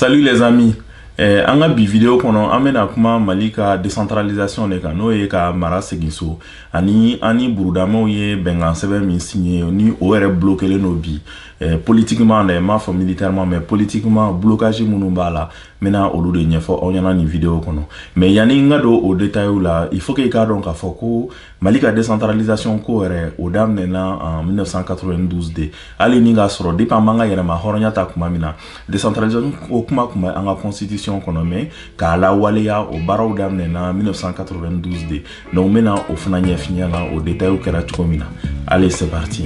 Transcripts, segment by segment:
Salut les amis eh, an ka bi video kɔnɔ an bɛna kuma mali ka décentralisation de kan n'o ye ka mara segin so ani an ni burudamaw ye bɛnkan sɛbɛn min signé ni o yɛrɛ blokelen don bi eh, politiquement dɛ n m'a fɔ militairement mais politiquement blocage minnu b'a la n bɛna olu de ɲɛfɔ aw ɲɛna nin video kɔnɔ mais yanni n ka don o detailw la il faut que i k'a dɔn k'a fɔ ko Mali ka décentralisation ko yɛrɛ o daminɛna en 1992 de hali ni k'a sɔrɔ depuis an b'an ka yɛrɛma hɔrɔnya ta tuma min na décentralisation ko kuma tun bɛ an ka constitution kɔnɔ mais k'a lawaleya o baaraw daminɛna 1992 de donc n bɛna o fana ɲɛf'i ɲɛ la o détails kɛra cogo min na allez c'est parti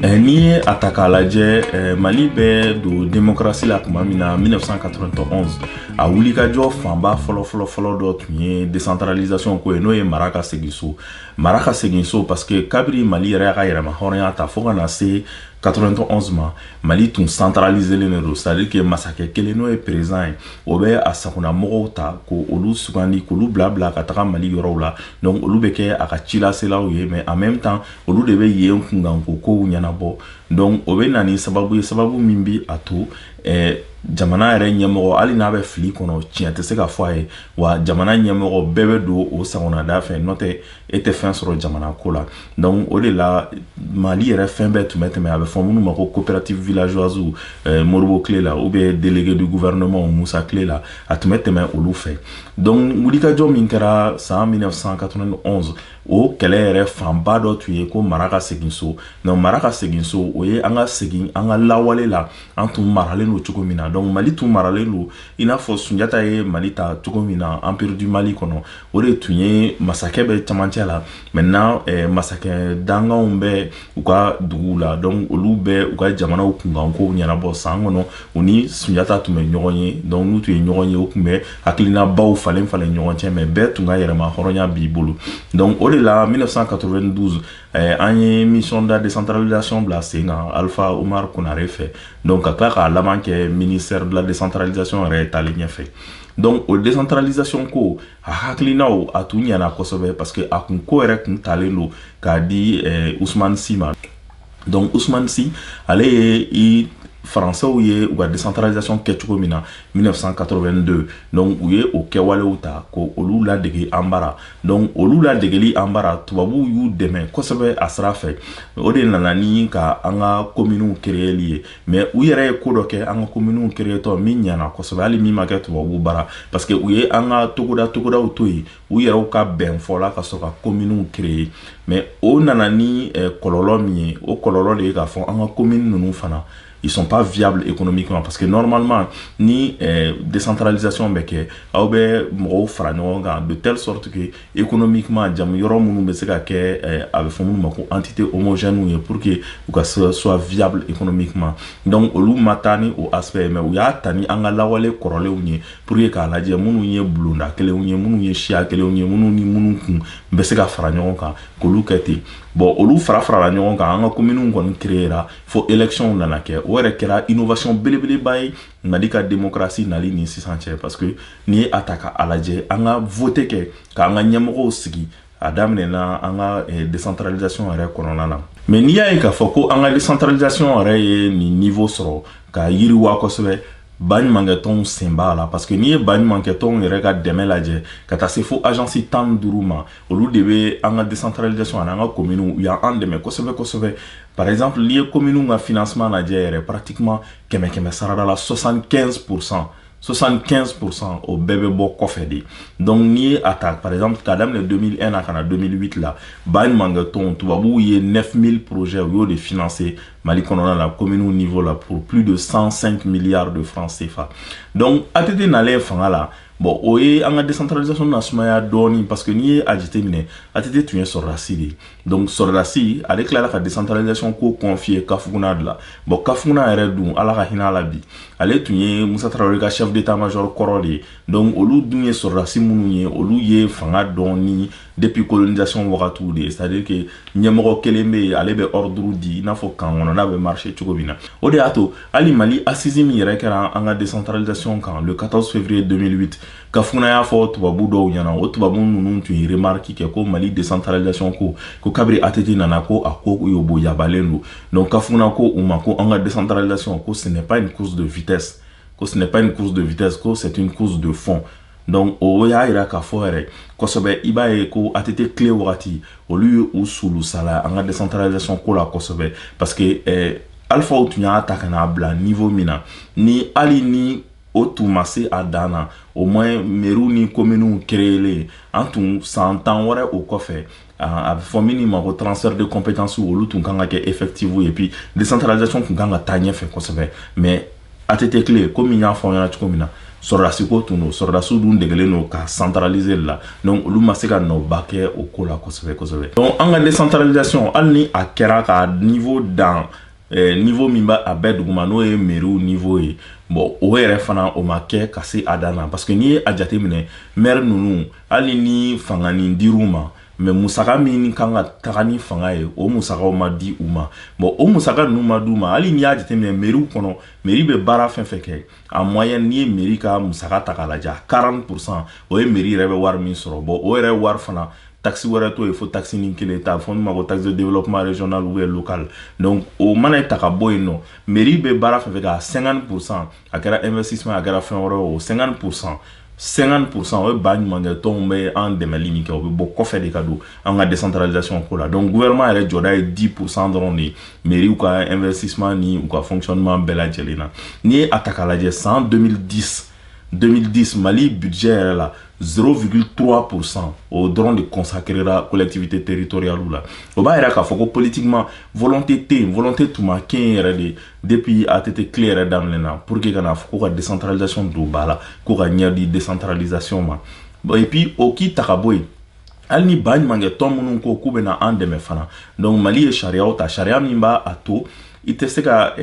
Eh, n'i ye a ta k'a lajɛ eh, mali bɛ don demokarasi la tuma min na 1991 a wulikajɔ fanba fɔlɔfɔlɔfɔlɔ dɔ tun ye décentralisation ko ye n'o ye mara ka segin so mara ka segin so parce que kabiri mali yɛrɛ y'a ka yɛrɛma hɔrɔnya ta fo ka na se 91 ma mali tun centraliselen de don c'est-à-dire que masakɛ kelen n'o ye président ye o bɛ a sagonamɔgɔw ta k'olu sugandi k'olu bila bila ka taga mali yɔrɔw la donc olu bɛ kɛ a ka cilaselaw ye mais en même temps olu de bɛ yen kunkanko kow ɲɛnabɔ donc o bɛ na ni sababu ye sababu min bi a to eh, jamana yɛrɛ ɲɛmɔgɔ hali n'a bɛ fili kɔnɔ tiɲɛ tɛ se ka fɔ a ye wa jamana ɲɛmɔgɔ bɛɛ bɛ don o sagona da fɛ n'o tɛ e tɛ fɛn sɔrɔ jamana ko la donc o de la mali yɛrɛ fɛn bɛɛ tun bɛ tɛmɛ a bɛ fɔ minnu ma ko coopérative villageoise eh, moribo tile la ou bien délégué du gouvernement musa tile la a tun bɛ tɛmɛ olu fɛ donc wulikajɔ min kɛra san 1991 o kɛlɛ yɛrɛ fanba dɔ tun ye ko mara ka segin so donc mara ka segin so o ye an ka segin an ka lawale la an tun maralen don cogo min na donc mali tun maralen don i n'a fɔ sunjata ye mali ta cogo min na empire du mali kɔnɔ o de tun ye masakɛ bɛ camancɛ la maintenant eh, masakɛ dankanw bɛ u ka duguw la donc olu bɛ u ka jamanaw kunkankow ɲɛnabɔ san kɔnɔ u ni sunjata tun bɛ ɲɔgɔn ye donc n'u tun ye ɲɔgɔn ye u tun bɛ hakilinabaw falen falen ɲɔgɔn cɛ mais bɛɛ tun ka yɛrɛma hɔrɔnya b'i bolo donc o de la 1992 eh, an ye mission de décentralisation bila sen kan alpha omar konare fɛ donc ka tila k'a laban kɛ ministère de la décentralisation yɛrɛ taalen ɲɛfɛ donc o décentralisation ko a hakilinaw a tun ɲana kosɛbɛ parce que a kun ko yɛrɛ kun talen don k'a di eh, ousmane sy ma donc ousmane sy ale ye i faransɛw ye u ka décentralisation kɛ cogo min na 1982 donc u ye o kɛwalew ta k'olu ladege an bara donc olu ladegeli an bara tubabuw y'u dɛmɛ kosɛbɛ a sira fɛ o de nana ni ka an ka kominiw kereyeli ye mais u yɛrɛ ye ko dɔ kɛ an ka kominiw créetɔ min ɲana kosɛbɛ hali min ma kɛ tubabu bara parce que u ye an ka togoda togodaw to yen u yɛrɛw ka bɛn fɔla ka sɔrɔ ka kominiw créer mais o nana ni eh, kɔlɔlɔ min ye o kɔlɔlɔ de ye k'a fɔ an ka komini ninnu fana ils sont pas viables économiquement parce que normalement ni eh, décentralisation bɛ kɛ aw bɛ mɔgɔw fara ɲɔgɔn kan de telle sorte que économiquement jamu yɔrɔ minnu bɛ se ka kɛ a bɛ fɔ minnu ma ko entités homogènes ye pour que u ka soit viable économiquement donc olu ma taa ni o aspect ye mais u y'a ta ni an ka lawale kɔrɔlenw ye pour que k'a lajɛ minnu ye bulonda kelenw ye minnu ye siya kelenw ye minnu ni minnu kun bɛ se ka fara ɲɔgɔn kan k'olu kɛ ten bon olu fara farala ɲɔgɔn kan an ka kominiw kɔni créera fo électionw nana kɛ o yɛrɛ kɛra innovation belebeleba ye mali ka demokrasi nali ni sisan cɛ parce que n'i ye a ta ka a lajɛ an ka vote kɛ k'an ka ɲɛmɔgɔw sigi a daminɛna an ka eh, decentralisation yɛrɛ kɔnɔna na mais n'i y'a ye k'a fɔ ko an ka decentralisation yɛrɛ ye nin niveau sɔrɔ ka yiriwa kosɛbɛ baɲumankɛtɔnw sen b'a la parce que n'i ye baɲumankɛtɔnw yɛrɛ ka dɛmɛ lajɛ ka taa se fo agence tan ni duuru ma olu de bɛ an ka decentralisation ani an ka kominiw u y'an dɛmɛ kosɛbɛ kosɛbɛ par exemple n'i ye kominiw ka financement lajɛ yɛrɛ pratiquement kɛmɛ kɛmɛ sarada la 75 pourcent 75 pourcent o bɛɛ bɛ bɔ kɔfɛ de donc n'i ye a ta par exemple k'a daminɛ 2001 na ka na 2008 la baɲumankɛtɔnw tubabuw ye 9000 projets u y'o de financer mali kɔnɔna la commune niveau la pour plus de 105 milliards de francs CFA donc ATT nalen fanga la bon o ye an ka décentralisation nasumaya dɔɔni parce que n'i ye a jateminɛ ATT tun ye sɔrɔdasi de ye donc sɔrɔdasi ale tilala ka decentralisation ko confier kafuguna de la bon kafuguna yɛrɛ dun ala ka hinɛ a la bi ale tun ye musa tarawele ka chef d'état major kɔrɔ de ye donc olu dun ye sɔrɔdasi minnu ye olu ye fanga dɔn ni depuis colonisation wagatiw de ye c'est à dire que ɲɛmɔgɔ kelen bɛ yen ale bɛ ordre di i n'a fɔ kan kɔnɔna bɛ marcher cogo min na o de y'a to hali mali assise min yɛrɛ kɛra an ka decentralisation kan le 14 février 2008 kafuguna y'a fɔ tubabu dɔw ɲɛna o tubabu ninnu tun ye remarque kɛ ko mali decentralisation ko ko kabiri ATT nana ko a ko yoboyabalen don donc kafuguna ko u ma ko an ka decentralisation ko ce n'est pas une course de vitesse ko ce n'est pas une course de vitesse ko c'est une course de fond donc o y'a yira k'a fɔ yɛrɛ kosɛbɛ i b'a ye ko ATT kile wagati olu ye u sulusala an ka decentralisation ko la kosɛbɛ parce que eh, alphaw tun y'a ta ka n'a bila niveau min na ni hali ni o tun ma se a dan na au moins meriw ni kominiw créelen an tun san tan wɛrɛ o kɔfɛ a bɛ fɔ min ma ko transfert de compétencew olu tun kan ka kɛ effectif et puis décentralisation tun kan ka taa ɲɛfɛ kosɛbɛ mais ATT kile komi n y'a fɔ ɲɛna cogo min na sɔrɔdasiko tun don sɔrɔdasiw dun degelen don ka centraliser la donc olu ma se ka nɔba kɛ o ko la kosɛbɛ kosɛbɛ donc an ka décentralisation hali ni a kɛra ka niveau dan eh, niveau min b'a a bɛɛ duguma n'o ye mairies niveau ye bon o yɛrɛ fana o ma kɛ ka se a dan na parce que n'i ye a jateminɛ maire ninnu hali ni fanga nin dir'u ma mais musaka min kan ka taga ni fanga ye o musakaw ma di u ma bon o musaka ninnu ma d'u ma hali n'i y'a jateminɛ mairie kɔnɔ mairie bɛ baara fɛn fɛn kɛ en moyenne n'i ye mairie ka musaka ta k'a lajɛ 40 pourcent o ye mairie yɛrɛ bɛ wari min sɔrɔ bon o yɛrɛ wari fana taxe wɛrɛ t'o ye fo taxe nin kelen ta fɔ min ma ko taxe de développement régional ou bien local donc o mana ta ka bɔ yen nɔ mairie bɛ baara fɛn fɛn kɛ a 50 pourcent a kɛra investissement a kɛra fɛn wɛrɛ o 50 pourcent 50 pourcent o ye ba ɲumankɛ tɔnw bɛ an dɛmɛli min kɛ o bɛ bɔ kɔfɛ de ka don an ka décentralisation ko la donc gouvernement yɛrɛ jɔda ye 10 pourcent dɔrɔn de ye mairies ka investissement ni u ka fonctionnement bɛɛ lajɛlen na n'i ye a ta k'a lajɛ san 2010 2010 Mali budget yɛrɛ la 0,3% o dɔrɔn de consacrera collectivité territoriale la o b'a yira k'a fɔ ko politiquement volonté tɛ yen volonté tun ma kɛ yɛrɛ de depuis ATT kile yɛrɛ daminɛ na pour que kana fɔ ko ka décentralisation don ba la ko ka ɲɛ di décentralisation ma bon et puis o k'i ta ka bɔ yen hali ni ba ɲumankɛ tɔn minnu ko k'u bɛna an dɛmɛ fana donc Mali ye sariyaw ta sariya min b'a a to i tɛ se ka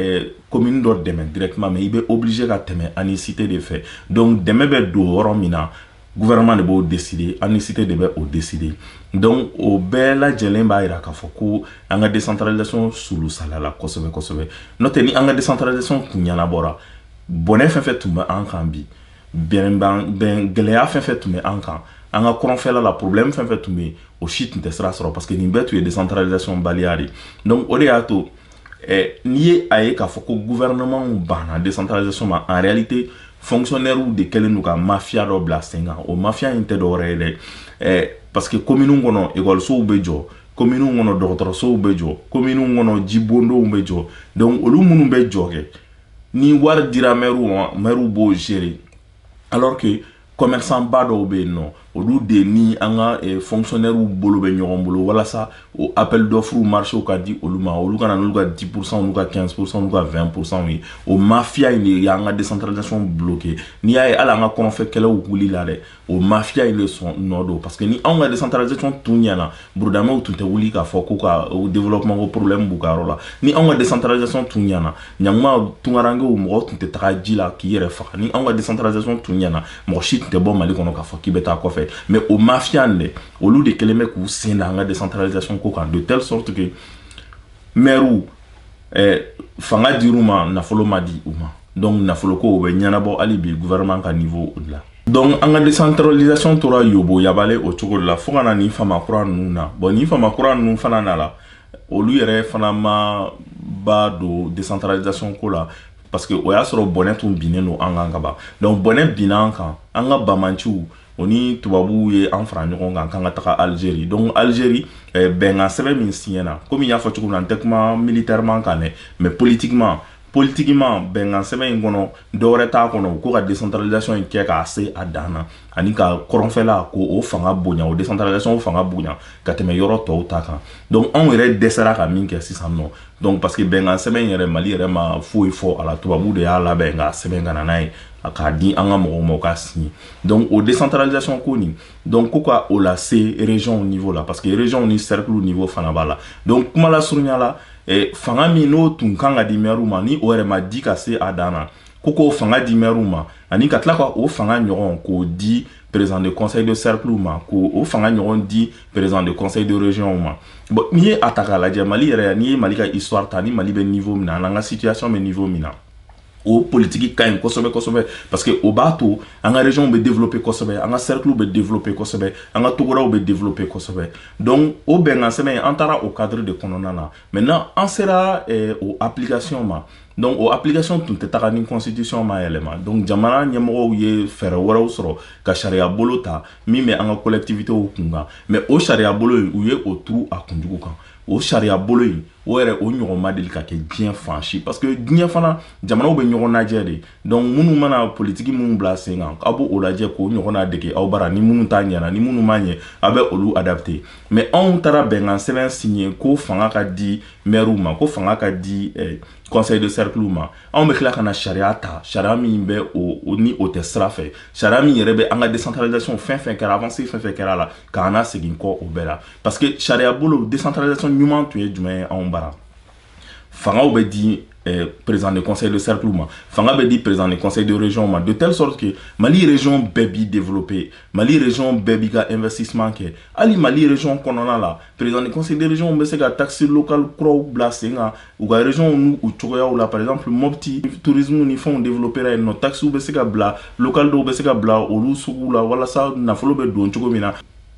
commune eh, dɔ dɛmɛ directement mais i bɛ obligé ka tɛmɛ ANICT de fɛ donc dɛmɛ bɛ don yɔrɔ min na gouvernement de b'o décider ANICT de bɛ o décider donc o bɛɛ lajɛlen b'a yira k'a fɔ ko an ka décentralisation sulusala la kosɛbɛ kosɛbɛ n'o tɛ ni an ka décentralisation kun ɲɛnabɔra bɔnɛ fɛn fɛn tun bɛ an kan bi bɛn gɛlɛya fɛn fɛn tun bɛ an kan an ka kɔrɔnfɛla la problème fɛn fɛn tun bɛ yen o si tun tɛ sira sɔrɔ parce que nin bɛɛ tun ye décentralisation baliya de donc o de y'a to eh, n'i ye a ye k'a fɔ ko gouvernement banna décentralisation ma en réalité fonctionnaires de kɛlen don ka mafia dɔ bila sen kan o mafia in tɛ dɔwɛrɛ ye dɛ eh, parce que commune kɔnɔ ekɔlisow bɛ jɔ commune kɔnɔ dɔgɔtɔrɔsow bɛ jɔ commune kɔnɔ jibondonw bɛ jɔ donc olu minnu bɛ jɔ kɛ ni wari dira maires ma maires b'o gérer alors que commerçant ba dɔw bɛ yen nɔ olu de ni an ka eh, fonctionnaires bolo bɛ ɲɔgɔn bolo walasa o appel d'offre marché ka di olu ma olu ka na n'olu ka 10 pourcent olu ka 15 pourcent olu ka 20 pourcent ye o mafia in de y'an ka décentralisation bloquer n'i y'a ye hali an ka kɔrɔnfɛ kɛlɛw wulila dɛ o mafia in de sɔn nɔ don parce que ni anw ka décentralisation tun ɲɛna burudamɛw tun tɛ wuli k'a fɔ k'u ka développement ko problème b'u ka yɔrɔ la ni anw ka décentralisation tun ɲɛna ɲanguma tungarankew mɔgɔ tun tɛ taga ji la k'i yɛrɛ faga ni anw ka décentralisation tun ɲɛna mɔgɔ si tun tɛ bɔ Mali kɔnɔ k'a fɔ k'i bɛ taa kɔfɛ mais o mafia in dɛ olu de kɛlen bɛ k'u sen da an ka décentralisation ko kan de telle sorte que mɛriw eh, fanga dir'u ma nafolo ma di u ma donc nafolo ko o bɛ ɲɛnabɔ hali bi gouvernement ka niveau de la donc an ka décentralisation tora yoboyaba la o cogo de la fo ka na nin fama kura ninnu na bon nin fama kura ninnu fana nana olu yɛrɛ fana ma ba don décentralisation ko la parce que o y'a sɔrɔ bɔnɛ tun binnen don an kan ka ban donc bɔnɛ binna an kan an ka banbaanciw o ni tubabuw ye an fara ɲɔgɔn kan k'an ka taga alizeri donc alizeri eh, bɛnkan sɛbɛn min siɲɛna komi n y'a fɔ cogo min na n tɛ kuma militairement kan dɛ mais politiquement politiquement bɛnkan sɛbɛn in kɔnɔ dɔwɛrɛ t'a kɔnɔ ko ka décentralisation in kɛ k'a se a dan na ani ka kɔrɔnfɛla ko o fanga bonya o décentralisation fanga bonya ka tɛmɛ yɔrɔ tɔw ta kan donc anw yɛrɛ dɛsɛra ka min kɛ sisan nɔ donc parce que bɛnkan sɛbɛn yɛrɛ mali yɛrɛ ma foyi fɔ a la tubabu de y'a labɛn k'a sɛbɛn ka na n'a ye k'a di an ka mɔgɔw ma u k'a siɲɛ donc o décentralisation ko nin donc ko ka o lase région au niveau la parce que région ni cercle au niveau fana b'a la donc kumalasurunya la eh, fanga min n'o tun kan ka di mɛriw ma ni o yɛrɛ ma di ka se a dan na ko k'o fanga di mɛriw ma ani ka tila ka o fanga ɲɔgɔn k'o di président de conseil de cercle ma k'o o fanga ɲɔgɔn di président de conseil de région ma bon n'i ye a ta k'a lajɛ mali yɛrɛ n'i ye mali ka histoire ta ni mali bɛ niveau min na ani an ka situation bɛ niveau min na o politiki ka ɲi kosɛbɛ kosɛbɛ parce que o b'a to an ka région bɛ développer kosɛbɛ an ka cercle bɛ développer kosɛbɛ an ka togodaw bɛ développer kosɛbɛ donc o bɛnkan sɛbɛn in an taara o cadre de kɔnɔna na maintenant an sera eh, o application ma donc o application tun tɛ taga ni constitution ma yɛlɛma donc jamana ɲɛmɔgɔw ye fɛɛrɛ wɛrɛw sɔrɔ ka sariya bolo ta min bɛ an ka collectivitéw kun kan mais o sariya bolo in u ye o turu a kunjugu kan o sariya bolo in o yɛrɛ o ɲɔgɔn ma deli ka kɛ diɲɛ fan si parce que diɲɛ fana jamanaw bɛ ɲɔgɔn lajɛ de donc minnu mana politiki minnu bila sen kan aw b'o lajɛ k'o ɲɔgɔn ladege aw bara ni minnu ta ɲɛna ni minnu ma ɲɛ aw bɛ olu adapter mais anw taara bɛnkan sɛbɛn signer ko fanga ka di mɛriw ma ko fanga ka di eh, conseil de cercle ma anw bɛ tila ka na sariya ta sariya min bɛ o ni o tɛ sira fɛ sariya min yɛrɛ bɛ an ka décentralisation fɛn fɛn kɛra avancée fɛn fɛn kɛra la k'an lasegin kɔ o bɛɛ la parce que sariya bolo décentralisation ɲuman tun ye jumɛn ye anw bara fangaw bɛ di eh, président de conseil de cercle ma fanga bɛ di président de conseil de région ma de telle sorte que mali région bɛɛ b'i développer mali région bɛɛ b'i ka investissement kɛ hali mali région kɔnɔna la président de conseil de région bɛ se ka taxe locale kuraw bila sen kan u ka région n'u cogoyaw la par exemple mopti tourisme ni fɛnw développera yen nɔ taxes bɛ se ka bila locale dɔw bɛ se ka bila olu suguw la walasa nafolo bɛ don cogo min na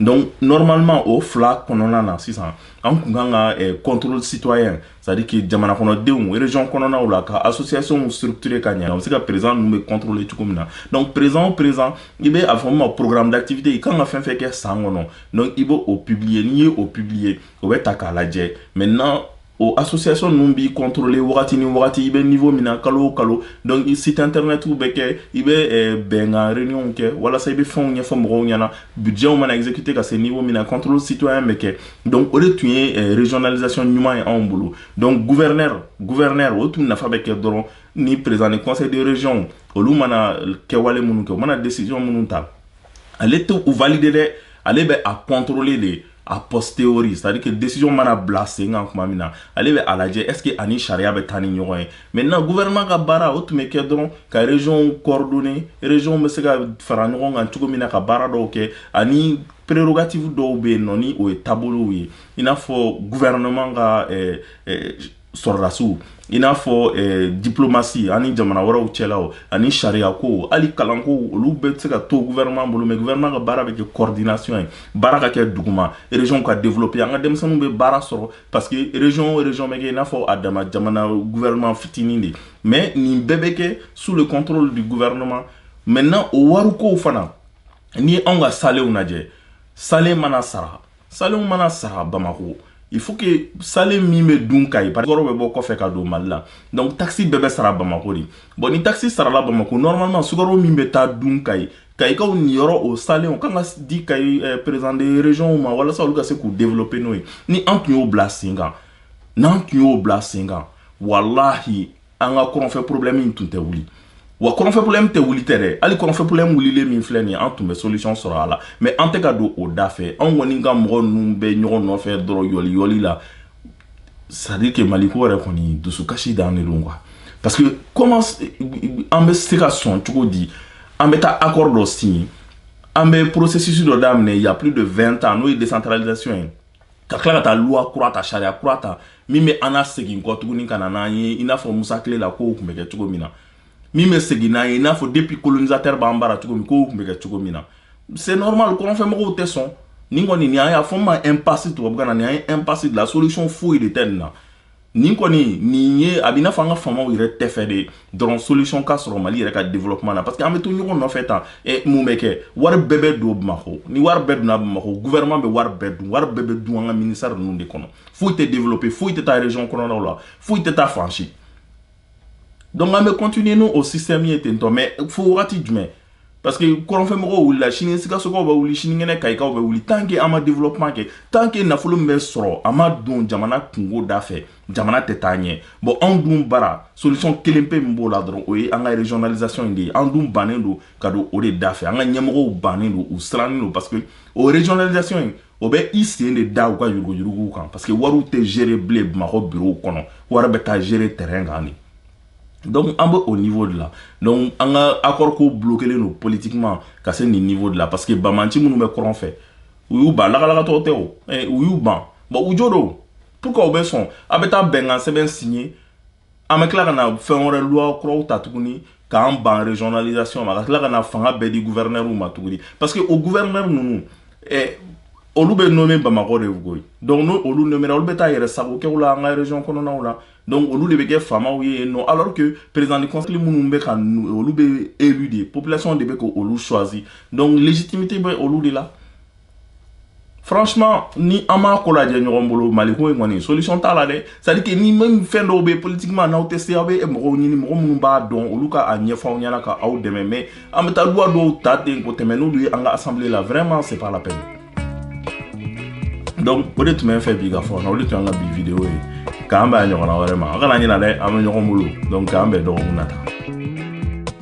donc normalement o fila kɔnɔna na sisan an kun kan ka eh, contrôle citoyen c'est à dire que jamana kɔnɔdenw région kɔnɔnaw la ka associationw structurer ka ɲɛ o bɛ se ka président ninnu bɛɛ contrôler cogo min na donc président o président i bɛ a fɔ min ma programme d'activité i kan ka fɛn fɛn kɛ san kɔnɔ donc i bɛ o publier n'i ye o publier o bɛ ta k'a lajɛ maintenant o association ninnu b'i contrôler wagati ni wagati i bɛ niveau min na kalo o kalo donc i site internet bɛ kɛ i bɛ eh, bɛnkan réunion kɛ walasa i bɛ fɛnw ɲɛfɔ mɔgɔw ɲɛna budgetw mana exécuter ka se niveau min na contrôle citoyen bɛ kɛ donc o de tun ye eh, régionalisation ɲuman ye anw bolo donc gouverneur gouverneur o tun nafa bɛ kɛ dɔrɔn ni président du conseil de région olu mana kɛwale minnu kɛ u mana décision minnu ta ale tɛ u valider dɛ ale bɛ a contrôler de a posteriori c'est à dire que décision mana bila sen kan tuma min na ale bɛ a lajɛ est ce que a ni sariya bɛ taa ni ɲɔgɔn ye maintenant gouvernement ka baara o tun bɛ kɛ dɔrɔn ka région coordonner région bɛ se ka fara ɲɔgɔn kan cogo min na ka baara dɔw kɛ ani prérogative dɔw bɛ yen nɔ ni o ye taabolow ye i n'a fɔ gouvernement ka eh, eh, sɔrɔdasiw i n'a fɔ eh, diplomasi ani jamana wɛrɛw cɛla ani sariyako hali kalanko olu bɛɛ bɛ se ka to gouvernement bolo mais gouvernement ka baara bɛ kɛ coordination ye baara ka kɛ duguma région ka développer an ka denmisɛnninw bɛ baara sɔrɔ parce que région o région bɛ kɛ i n'a fɔ a dama jamana gouvernement fitinin de mais nin bɛɛ bɛ kɛ sous le contrôle du gouvernement maintenant o warikow fana n'i ye anw ka salew lajɛ sale mana sara Salenw mana sara Bamako il faut que sale min bɛ dun kayi yɔrɔ bɛ bɔ kɔfɛ ka don mali la donc taxe bɛɛ bɛ sara bamako de bon ni taxe sarala bamako normalement sukaro min bɛ taa dun kayi kayikaw niyɔrɔ o salenw kan ka di kayi eh, président de région ma walasa olu ka se k'u développer n'o ye ni an tun y'o bila sen kan n'an tun y'o bila sen kan walahi an ka kɔrɔnfɛ problème in tun tɛ wuli wa kɔrɔnfɛ problème tɛ wuli tɛ dɛ hali kɔrɔnfɛ problème wulilen min filɛ nin ye an tun bɛ solution sɔrɔ a la mais an tɛ ka don o da fɛ anw kɔni ka mɔgɔ ninnu bɛ ɲɔgɔn nɔfɛ dɔrɔn yɔli yɔli la c'est à dire que maliko yɛrɛ kɔni dusukasi dan de don quoi parce que comment an bɛ se ka sɔn cogo di an bɛ taa accord dɔ signer an bɛ processus dɔ daminɛ il y a plus de 20 ans n'o ye décentralisation ye ka tila ka taa loi kura ta sariya kura ta min bɛ an nasegin kɔ tuguni ka na n'an ye i n'a fɔ musa tile la kow tun bɛ kɛ cogo min na min bɛ segin n'an ye i n'a fɔ depuis colonisateur b'an bara cogo min kow tun bɛ kɛ cogo min na c'est normal kɔrɔnfɛmɔgɔw tɛ sɔn nin kɔni nin an y'a fɔ nin ma impasse tubabukan na nin an ye impasse de la solution foyi de tɛ nin na nin kɔni nin ye a b'i n'a fɔ an ka faamaw yɛrɛ t'a fɛ de dɔrɔn solution ka sɔrɔ mali yɛrɛ ka développement na parce que an bɛ to ɲɔgɔn nɔfɛ tan ɛ mun bɛ kɛ wari bɛɛ bɛ don bamakɔ ni wari bɛɛ donna bamakɔ gouvernement bɛ wari bɛɛ dun wari bɛɛ bɛ dun an ka ministère ninnu de kɔnɔ foyi tɛ développer foyi tɛ taa région kɔnɔnaw la foyi tɛ taa fan si donc an bɛ continuer ni o système ye tentɔ mais fo wagati jumɛn parce que kɔrɔnfɛmɔgɔw wulila sini sikasokaw bɛ wuli sinikɛnɛ kayikaw bɛ wuli tant que an ma développement kɛ tant que nafolo min bɛ sɔrɔ a ma don jamana kunko da fɛ jamana tɛ taa ɲɛ bon anw dun bara solution kelen pe min b'o la dɔrɔn o ye an ka régionalisation in de ye an dun bannen don ka don o de da fɛ an ka ɲɛmɔgɔw bannen don u sirannen don parce que o régionalisation in o bɛ i sen de da u ka yuruguyuruguw kan parce que wariw tɛ gérer bilen bamakɔ bureau kɔnɔ wari bɛ taa gérer terrain kan de donc an bɛ o niveau de la donc an ka accord ko bloquelen don politiquement ka se nin niveau de la parce que banbaanci minnu bɛ kɔrɔn fɛ u y'u ban lagalagatɔ tɛ o eh, u y'u ban bon u jo don pourquoi u bɛ sɔn a bɛ taa bɛnkan sɛbɛn signer an bɛ tila ka na fɛn wɛrɛ loi kuraw ta tuguni k'an ban régionalisation ma ka tila ka na fanga bɛɛ di gouverneurw ma tuguni parce que o gouverneur ninnu eh, olu bɛ nommé bamakɔ de koyi donc n'olu nomméra olu bɛ taa yɛrɛ sago kɛ u la an ka région kɔnɔnaw la donc olu de bɛ kɛ faamaw ye yen nɔ alors que président du conseil minnu bɛ ka olu bɛ élu de population de bɛ ka olu choisi donc légitimité bɛ olu de la franchement ni an m'a ko lajɛ ɲɔgɔn bolo maliko in kɔni solution t'a la dɛ c'est à dire que ni même fɛn dɔw bɛ politiquement n'aw tɛ se aw bɛ mɔgɔw ɲini mɔgɔ minnu b'a dɔn olu ka a ɲɛfɔ aw ɲɛna ka aw dɛmɛ mais an bɛ taa loi dɔw ta ten ka tɛmɛ n'olu ye an ka assemblée la vraiment c'est pas la peine donc o de tun bɛ n fɛ bi ka fɔ na o de tun y'an ka bi video ye k'an bɛn a ɲɔgɔnna wɛrɛ ma a kana ɲina dɛ an bɛ ɲɔgɔn bolo donc k'an bɛn dɔgɔkun nata